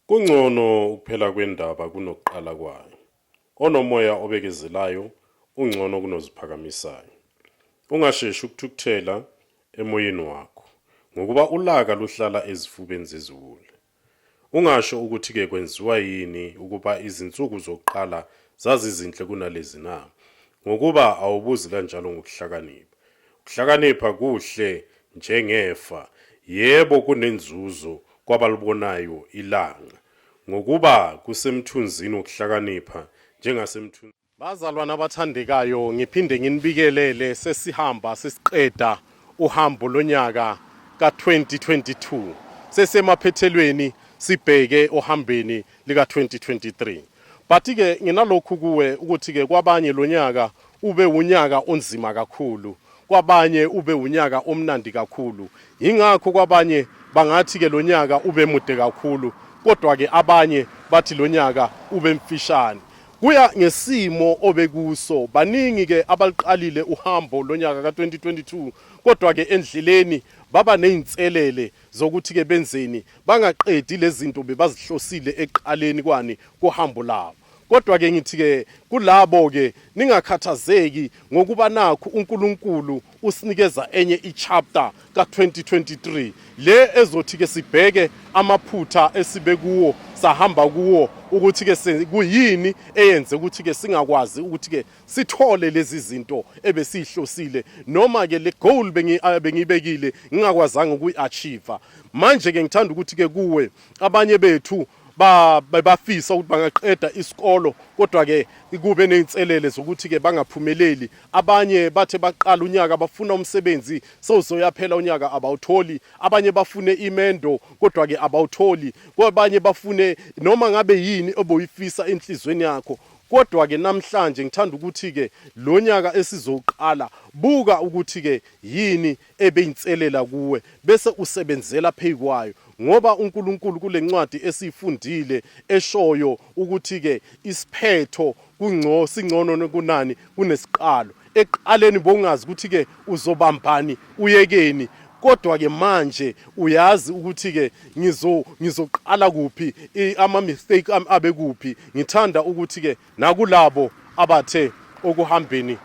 Kungcono ukuphela kwendaba kunokuqala kwayo. Onomoya obekezelayo ungcono kunoziphakamisayo. Ungasheshi ukuthukuthela emoyeni wakho, ngokuba ulaka luhlala ezifubeni zeziwula. Ungasho ukuthi-ke kwenziwa yini ukuba izinsuku zokuqala zazizinhle kunalezi na? Ngokuba awubuzi kanjalo ngokuhlakanipha. Ukuhlakanipha kuhle njengefa, yebo, kunenzuzo kwabalibonayo ilanga, ngokuba kusemthunzini wokuhlakanipha njengasemthunzini. Bazalwane abathandekayo, ngiphinde nginibikelele sesihamba sesiqeda uhambo lonyaka ka-2022, sesemaphethelweni sibheke ohambeni lika-2023. But-ke nginalokhu kuwe ukuthi-ke kwabanye lo nyaka ube wunyaka onzima kakhulu, kwabanye ube wunyaka omnandi kakhulu. Yingakho kwabanye bangathi-ke lo nyaka ube mude kakhulu, kodwa-ke abanye bathi lo nyaka ube mfishane. Kuya ngesimo obekuso. Baningi-ke abaluqalile uhambo lo nyaka ka-2022, kodwa-ke endleleni baba nezinselele. zokuthi ke benzeni bangaqedi lezinto bebazihlosile eqaleni kwani kohambo labo kodwa ke ngithi ke kulabo ke ningakhathazeki ngokuba nakho uNkulunkulu usinikeza enye ichapter ka2023 le ezothi ke sibheke amaphutha esibe kuwo sahamba kuwo ukuthi ke kuyini eyenze ukuthi ke singakwazi ukuthi ke sithole lezi zinto ebesihlosile noma ke le goal ah, bengiyibekile ngingakwazanga ukuyi-achieve manje ke ngithanda ukuthi ke kuwe abanye bethu bebafisa ukuthi bangaqeda isikolo kodwa ke kube nezinselele zokuthi ke bangaphumeleli abanye bathe baqala unyaka bafuna umsebenzi sewuzoyaphela unyaka abawutholi abanye bafune imendo kodwa ke abawutholi kwabanye bafune noma ngabe yini oboyifisa enhlizweni yakho Kodwa-ke namhlanje ngithanda ukuthi-ke lo nyaka esizowuqala, buka ukuthi-ke yini ebeyinselela kuwe, bese usebenzela phezu kwayo. Ngoba uNkulunkulu kule ncwadi esiyifundile eshoyo ukuthi-ke isiphetho singcono kunani kunesiqalo. Ekuqaleni bowungazi ukuthi-ke uzobambani uyekeni kodwa-ke manje uyazi ukuthi-ke ngizoqala kuphi ama-mistake ami abe kuphi ngithanda ukuthi-ke nakulabo abathe okuhambeni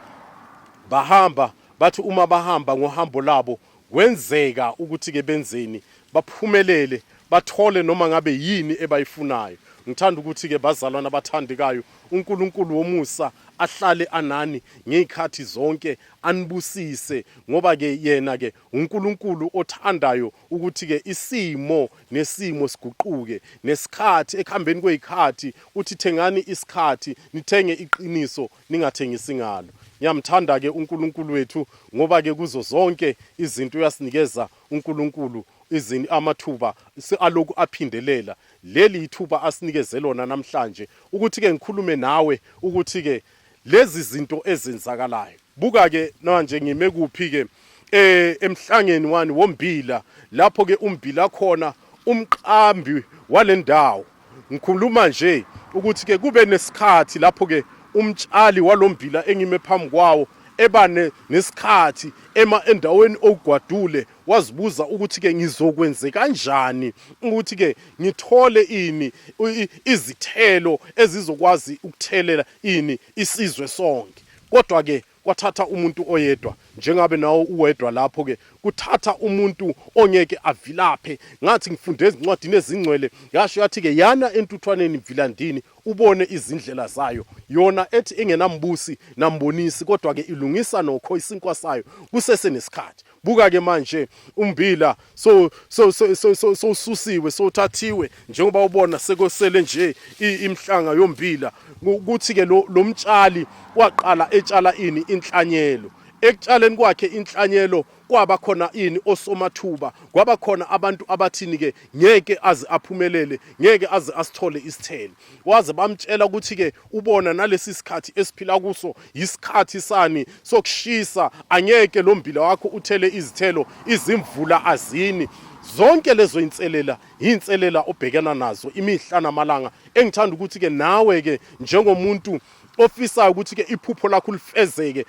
bahamba bathi uma bahamba ngohambo labo Kwenzeka ukuthi-ke benzeni? Baphumelele, bathole noma ngabe yini ebayifunayo. Ngithanda ukuthi-ke bazalwane abathandekayo, uNkulunkulu womusa ahlale anani ngezikhathi zonke, anibusise, ngoba-ke Yena-ke uNkulunkulu othandayo ukuthi-ke isimo nesimo siguquke, nesikhathi, ekuhambeni kwezikhathi, uthi, Thengani isikhathi, nithenge iqiniso, ningathengisi ngalo. Ngiyamthanda-ke uNkulunkulu wethu ngoba-ke kuzo zonke izinto uyasinikeza uNkulunkulu izini amathuba aloku aphindelela leli ithuba asinikeze lona namhlanje ukuthi ke ngikhulume nawe ukuthi ke lezi zinto ezenzakalayo buka ke manje ngime kuphi ke eh emhlangeni wani wombila lapho ke umbila khona umqambi walendawo Ngikhuluma nje ukuthi ke kube nesikhathi lapho ke umtshali walombila engime phambi kwawo eba nesikhathi ema endaweni ogwadule wazibuza ukuthi ke ngizokwenze kanjani ukuthi ke ngithole ini izithelo ezizokwazi ukuthelela ini isizwe sonke kodwa ke Kwathatha umuntu oyedwa njengabe nawo uwedwa lapho ke kuthatha umuntu ongeke avilaphe ngathi ngifunde ezincwadini ezingcwele yasho yathi ke yana entuthwaneni mvilandini ubone izindlela zayo yona ethi engenambusi nambonisi kodwa ke ilungisa nokho isinkwa sayo kusese nesikhathi buka ke manje umbila so so so so so so susiwe so thathiwe njengoba ubona sekosele nje imhlanga yombila ukuthi ke lo lomtshali waqala etshala ini inhlanyelo ekutshaleni kwakhe inhlanyelo kwaba khona ini osomathuba kwaba khona abantu abathini ke ngeke aze aphumelele ngeke aze asithole isithelo waze bamtshela ukuthi ke ubona nalesi sikhathi esiphila kuso yisikhathi sani sokushisa angeke lo mbila wakho uthele izithelo izimvula azini zonke lezo inselela inselela obhekana nazo imihla namalanga engithanda ukuthi ke nawe ke njengomuntu ofisayo ukuthi ke iphupho lakho lifezeke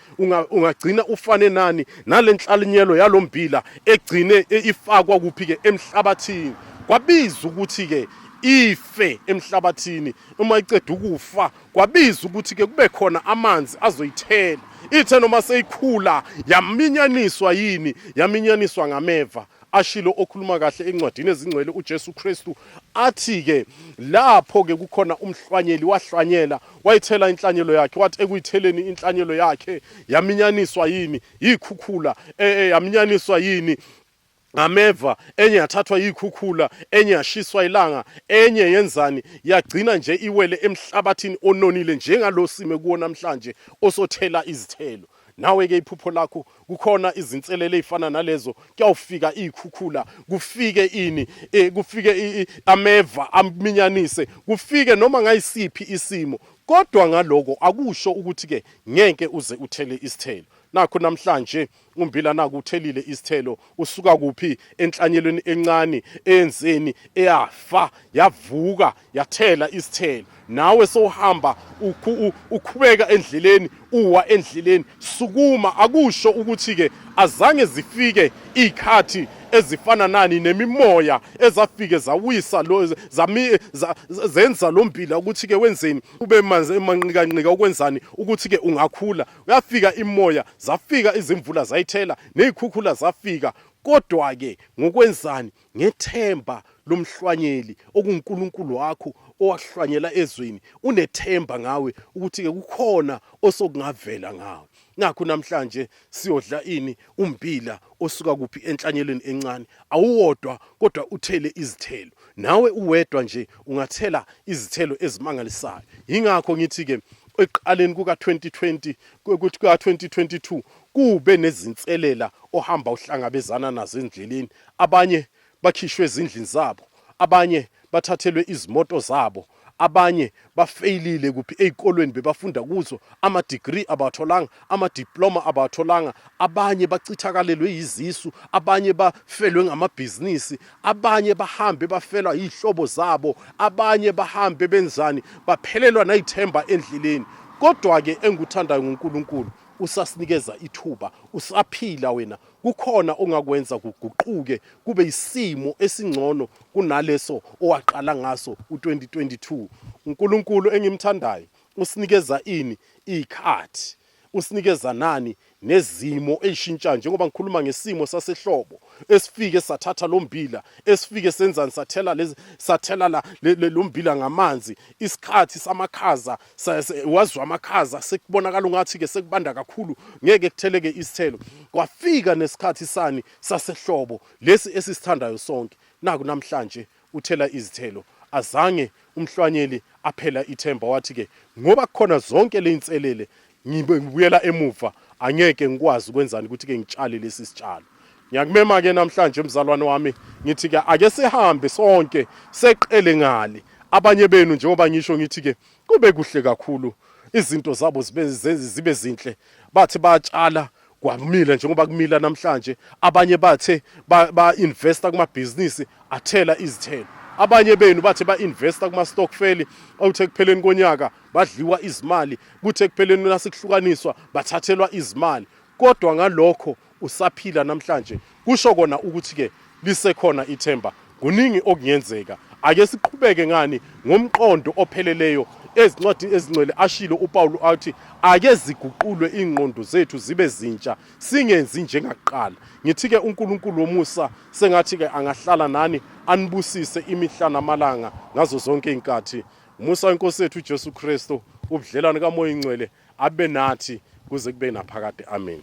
ungagcina unga ufane nani nalenhlalinyelo yalombila egcine e, ifakwa kuphi ke emhlabathini kwabiza ukuthi ke ife emhlabathini uma iceda ukufa kwabiza ukuthi ke kube khona amanzi azoyithela ithe noma seyikhula yaminyaniswa yini yaminyaniswa ngameva ashilo okhuluma kahle encwadini ezingcwele uJesu Kristu athi ke lapho ke kukhona umhlwanyeli wahlwanyela wayithela inhlanyelo yakhe wathi ekuyitheleni inhlanyelo yakhe yaminyaniswa yini yikhukhula e, e, yaminyaniswa yini ngameva enye yathathwa yikhukhula enye yashiswa ilanga enye yenzani yagcina nje iwele emhlabathini ononile njengalosime kuwo namhlanje osothela izithelo Nawe ke iphupho lakho kukhona izinselele ezifana nalezo kuyawufika izikhukhula kufike ini e, kufike i, i, ameva aminyanise kufike noma ngayisiphi isimo kodwa ngaloko akusho ukuthi ke ngeke uze uthele isithelo nakho namhlanje umbila naku uthelile isithelo usuka kuphi enhlanyelweni encane eyenzeni eyafa yavuka yathela isithelo nawe sowuhamba ukhubeka endleleni uwa endleleni sukuma akusho ukuthi ke azange zifike ikhathi ezifana nani nemimoya ezafike zawisa lo zami zenza lombila ukuthi ke wenzeni ube manzi emanqikanqika ukwenzani ukuthi ke ungakhula Yafika imoya, zafika izimvula zayithela, nezikhukhula zafika. Kodwa-ke ngokwenzani? Ngethemba lomhlwanyeli okunguNkulunkulu wakho owakuhlwanyela ezweni. Unethemba ngawe ukuthi-ke kukhona osokungavela ngawe. Nakho namhlanje siyodla ini? Umbila osuka kuphi enhlanyelweni encane awuwodwa kodwa uthele izithelo. Nawe uwedwa nje ungathela izithelo ezimangalisayo. Yingakho ngithi ke ekuqaleni kuka 2020 kuthi ka 2022 kube nezinselela ohamba uhlangabezana nazo endleleni. Abanye bakhishwe ezindlini zabo, abanye bathathelwe izimoto zabo, abanye bafeyilile kuphi ezikolweni bebafunda kuzo, ama degree abawatholanga, ama diploma abawatholanga, abanye bachithakalelwe yizisu, abanye bafelwe ngamabhizinisi, abanye bahambe bafelwa yizihlobo zabo, abanye bahambe benzani, baphelelwa nayithemba endleleni. Kodwa ke engikuthandayo nguNkulunkulu usasinikeza ithuba, usaphila wena, kukhona ongakwenza kuguquke kube isimo esingcono kunaleso owaqala ngaso u-2022. UNkulunkulu engimthandayo usinikeza ini iy'khathi usinikeza nani nezimo eyishintshayo njengoba ngikhuluma ngesimo sasehlobo esifike sathatha lo mbila esifike senzani sathela lezi sathela la lo mbila ngamanzi isikhathi samakhaza wazwa amakhaza sekubonakala ungathi-ke sekubanda kakhulu ngeke kutheleke isithelo kwafika nesikhathi sani sasehlobo lesi esisithandayo sonke naku namhlanje uthela izithelo azange umhlwanyeli aphela ithemba wathi-ke ngoba kukhona zonke le inselele ngibuyela emuva angeke ngikwazi ukwenzani ukuthi-ke ngitshale lesi sitshalo Ngiyakumema ke namhlanje mzalwane wami ngithi ke ake sihambe sonke seqele ngali abanye benu njengoba ngisho ngithi ke kube kuhle kakhulu izinto zabo zibe zibe zinhle bathi batshala kwamila njengoba kumila namhlanje abanye bathe ba investa kuma business athela izithelo abanye benu bathe ba investa kuma stockfeli awuthe kupheleni konyaka badliwa izimali kuthe kupheleni nasikuhlukaniswa bathathelwa izimali kodwa ngalokho usaphila namhlanje kusho kona ukuthi-ke lisekhona ithemba kuningi okungenzeka ake siqhubeke ngani ngomqondo opheleleyo ezincwadini ezingcwele ashilo upawulu athi ake ziguqulwe iy'ngqondo zethu zibe zintsha singenzi njengakuqala ngithi-ke unkulunkulu womusa sengathi-ke angahlala nani anibusise imihla namalanga ngazo zonke iy'nkathi umusa wenkosi yethu ujesu kristu ubudlelwane kamoya ingcwele abe nathi kuze kube naphakade amen